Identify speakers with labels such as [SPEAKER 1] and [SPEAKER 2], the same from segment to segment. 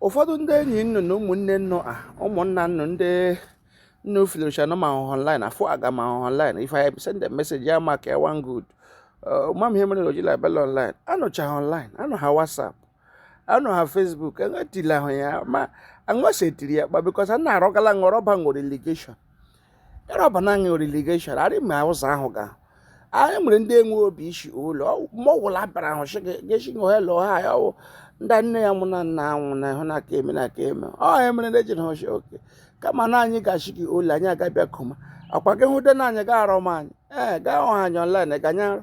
[SPEAKER 1] ụfọdụ ndị enyi nnu na ụmụnne nnu a ụmụnna nnu ndị nnu filosha nọ ma ahụhụ online afọ aga ma ahụhụ online if i send a message ya mark one good ma m ihe mere oji label online anọchaghị online anọ ha whatsapp anọ ha facebook enwetila ahụ ya ma anwụsetiri ya kpa because a na-arọgala ṅụ rọba ṅụ relegation ya rọba naanị relegation arị ma ụzọ ahụ ga anyị nwere ndị enwe obi isi ụlọ ma ọwụla abịara ahụ sị gesi gị hello ha ya ọwụ ndị nne ya nwụ na nna anwụ na ịhụ na aka eme na aka eme ọ ya mere na ejiri hụchi oke kama na anyị gachi gị ụlọ anyị agabịa koma akwa gị hụ de na anyị ga arọ m anyị ee gaa ọha anyị online ga anyị arụ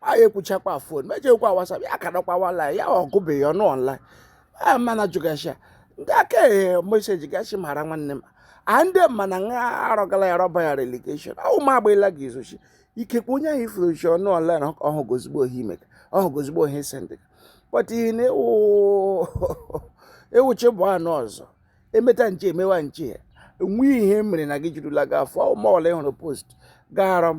[SPEAKER 1] anyị ekwuchakwa fon mejekwa whatsapp ya akadọkwa online ya ọgụbeghị ọnọ online mana jụgasha ndị aka ehe message gashi mara nwanne m a ndị mana nha arọgala ya rọba ya relegation ahụ m agbaela gị izochi ikekwe onye ahụ ifuru chi ọnọ online ọhụ gozigbo ohi imeka ọhụ gozigbo ohi sendịka but ihe na ewuchi bụ anụ ọzọ emeta nche emewa nche nwee ihe mere na gị jirula gị afọ ọma ọla ịhụrụ post gaara m